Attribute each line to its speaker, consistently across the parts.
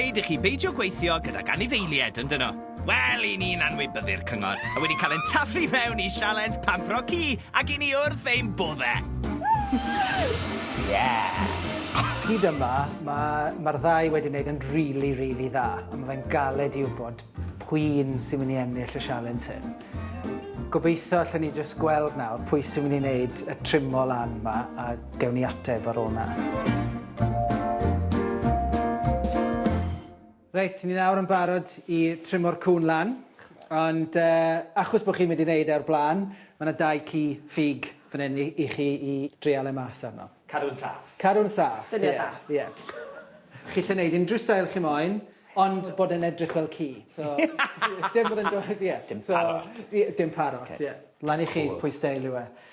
Speaker 1: dweud i chi beidio gweithio gydag anifeiliaid, yn dyn nhw? Wel, i ni'n anwybyddu'r cyngor, a wedi cael ein taflu mewn i sialens pampro ci Ac i ni wrth ein bodde!
Speaker 2: Yeah! Hyd yma, ma', ma'r ddau wedi neud yn rili, rili dda, a ma' fe'n galed i wbod p'un sy'n myn' i ennill y sialens hyn. Gobeitho allen ni jyst gweld nawr pwy sy'n myn' i neud y trimo lan 'ma a gewn ni ateb ar ôl 'na. Reit, ni nawr yn barod i trymo'r cŵn lan, ond achos bod chi'n mynd i wneud e o'r blaen, mae yna dau ci ffug fan hyn i i chi i dreial e mas arno. Cadw'n saff. Cadw'n
Speaker 3: saff.
Speaker 2: Syniad da. Ie, ie. Chi allu wneud unrhyw steil chi moyn, ond bod e'n edrych fel ci. So dim bod e'n dod, ie. Dim parot. Ie,
Speaker 3: dim parot,
Speaker 2: ie. Lan i chi pwy steil yw e.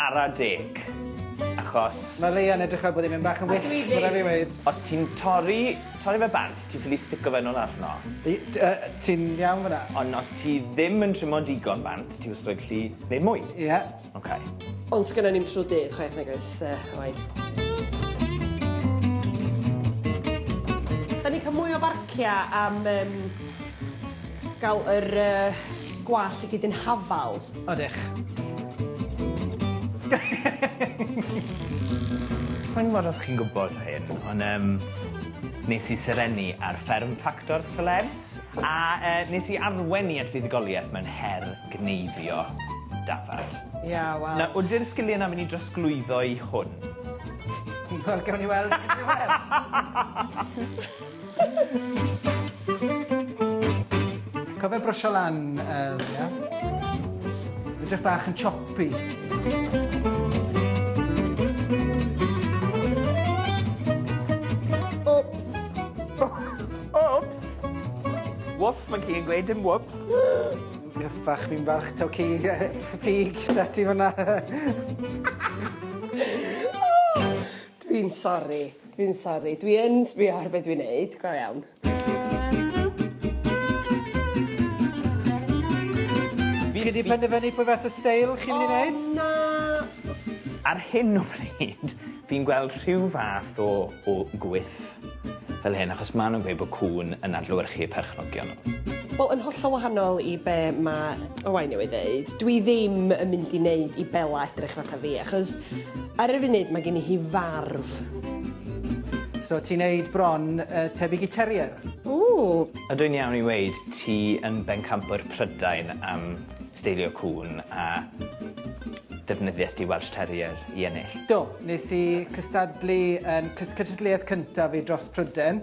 Speaker 3: Ara deg, achos... Mae Leanne edrych
Speaker 2: fel bod hi'n mynd bach yn wyllt, mae'n rhaid fi weud. Os ti'n torri,
Speaker 3: torri fe bant, ti'n ffili stico fe nôl arno. I- t- yy, ti'n
Speaker 2: iawn fan'na? Ond os ti ddim
Speaker 3: yn trimo digon bant, ti wastod yn gallu neud mwy. Ie. Oce. Ond sgynnon ni'm
Speaker 4: trw dydd, chwaith, nag oes, yy, oed. Da ni'n cael mwy o farcia am, yym, ga'l yr, yy, gwallt i gyd yn hafal. Ydych.
Speaker 3: Sa i'n gwybod os chi'n gwybod hyn, ond yym, nes i serennu ar fferm Factor Celebs, a yy nes i arwain i at fuddugoliaeth mewn her gneifio dafad. Ie, wel.
Speaker 4: Nawr, ydi'r sgiliau 'na mynd
Speaker 3: i drosglwyddo i hwn? Wel, gawn
Speaker 2: ni weld, gawn ni weld. Cofio brwsio lan y leiaf. Edrych bach yn choppy.
Speaker 4: Wps!
Speaker 3: Wps! Wwff, mae ci yn gweud dim wwps. Gyffach,
Speaker 2: fi'n falch taw ci ffug syda ti fyna.
Speaker 4: Dwi'n sori. Dwi'n sori, dwi yn sbio ar be dwi'n neud, go iawn.
Speaker 2: Fi wedi penderfynu pwy fath o steil chi'n mynd i wneud. O na!
Speaker 3: Ar hyn o bryd, fi'n gweld rhyw fath o o gwyth fel hyn, achos ma' nhw'n gweud bod cŵn yn adlewyrchu eu perchnogion nhw. Wel, yn hollol
Speaker 4: wahanol i be ma' Owain newydd ddeud, dwi ddim yn mynd i neud i Bela edrych fatha fi, achos ar y funud ma' gen i hi farw.
Speaker 2: So ti'n neud bron yy tebyg i terrier. Ww!
Speaker 4: Ydw i'n iawn i
Speaker 3: weud ti yn bencampwr Prydain am steilio cŵn a defnyddiest ti Welsh Terrier i ennill? Do, nes i
Speaker 2: cystadlu yn cys- cystadleuaeth cyntaf fi dros Pryden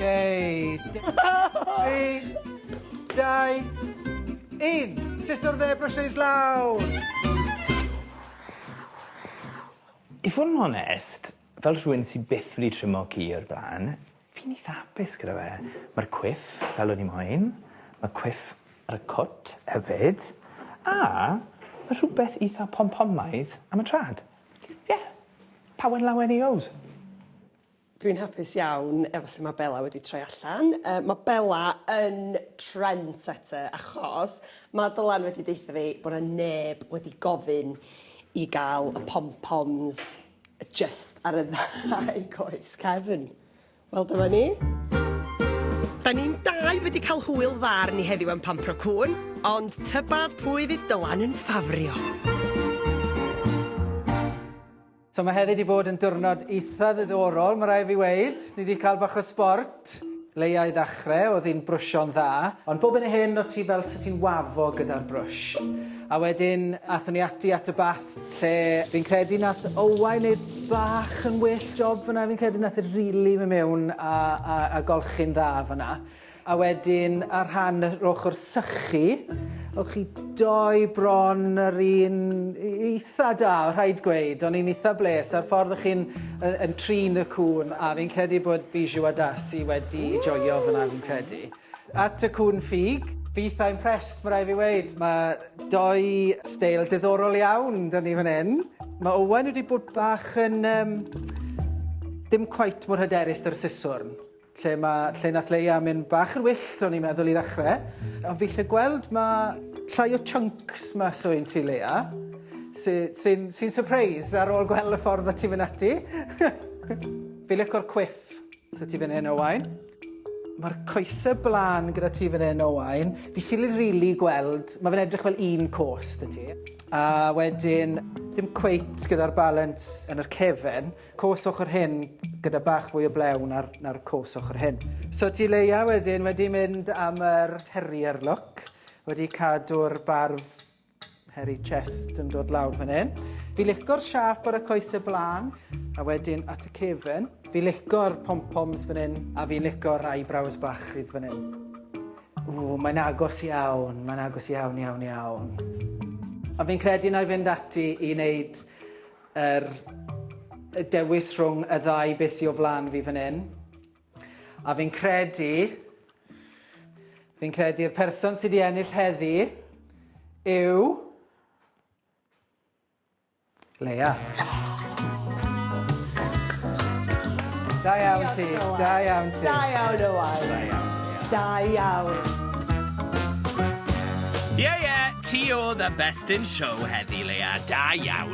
Speaker 2: Ei! Tri, dau, un. Sut o'r dde brysio i slawr?
Speaker 3: I fod yn onest, Fel rhywun sy byth wedi trimo ci o'r blaen, fi'n eitha hapus gyda fe. Ma'r cwiff fel o'n i moyn. Ma' cwiff ar y cwt hefyd. A ma' rhwbeth eitha pom-pomaidd am y trad. Ie. Pawen lawen he goes.
Speaker 4: Dwi'n hapus iawn efo su' ma' Bella wedi troi allan. Yy ma' Bella yn trendsetter achos ma' Dylan wedi deutho fi bo' 'na neb wedi gofyn i ga'l y pom-poms Jyst ar y ddau goes cefn. Wel dyma ni. Da ni'n dau wedi cael hwyl dda arni heddiw yn pampro cŵn, ond tybad pwy fydd Dylan yn ffafrio?
Speaker 2: So mae heddi wedi bod yn diwrnod eitha ddiddorol, mae rhaid fi weud. Ni wedi cael bach o sbort. T, Leia i ddachre, oedd hi'n brwsio'n dda, ond bob hyn a hyn o' ti fel 'se ti'n wafo gyda'r brwsh. A wedyn athon ni ati at y bath lle fi'n credu nath Owain neud bach yn well job fanna fi'n credu nath e rili myn' mewn a a a golchi'n dda fanna. A wedyn ar rhan yr ochor sychu o'ch chi doi bron yr un i- i- Tha da, rhaid gweud. O'n i'n itha bles a'r ffordd o'ch chi'n yy yn trin y cŵn a fi'n credu bod Bijou a Darcy wedi joio fan'na fi'n credu. At y cŵn ffug. Fi itha impressed ma' rai' fi weud. Ma' dou steil diddorol iawn 'da ni fan 'yn. Ma' Owain wedi bod bach yn yym dim cweit mor hyderus 'da'r siswrn. Lle ma, lle nath Leia mynd bach yn wyllt o'n i'n meddwl i ddechrau. Ond fi lle gweld ma llai o chunks mas o un ti Leia. Sy'n sy sy surprise ar ôl gweld y ffordd o ti'n mynd ati. fi licor quiff sy'n ti fan hyn o wain. Mae'r coesau blaen gyda ti fan hyn o wain. Fi ffili rili really gweld, mae fe'n edrych fel un cos dy ti. A wedyn, dim cweit gyda'r balance yn yr cefen. Cos ochr hyn gyda bach fwy o blew na'r na'r cos ochr hyn. So ti leia wedyn wedi mynd am yr terrier look, wedi cadw'r barf hairy chest yn dod lawr fan hyn. Fi lico'r siâp ar y coese blaen a wedyn at y cefn. Fi lico'r pom-poms fan hyn a fi'n lico'r eyebrows bach sydd fan hyn. Ww, mae'n agos iawn, mae'n agos iawn, iawn, iawn. A fi'n credu na i fynd ati i wneud Yr dewis rhwng y ddau beth sy o flan fi fan hyn. A fi'n credu... Fi'n credu'r person sydd wedi ennill heddi yw... Leia. Da iawn ti, da iawn ti. Da iawn o waith.
Speaker 4: Da iawn.
Speaker 1: Da iawn. Ie, ie, ti oedd y best in show heddi, Leia. Da iawn.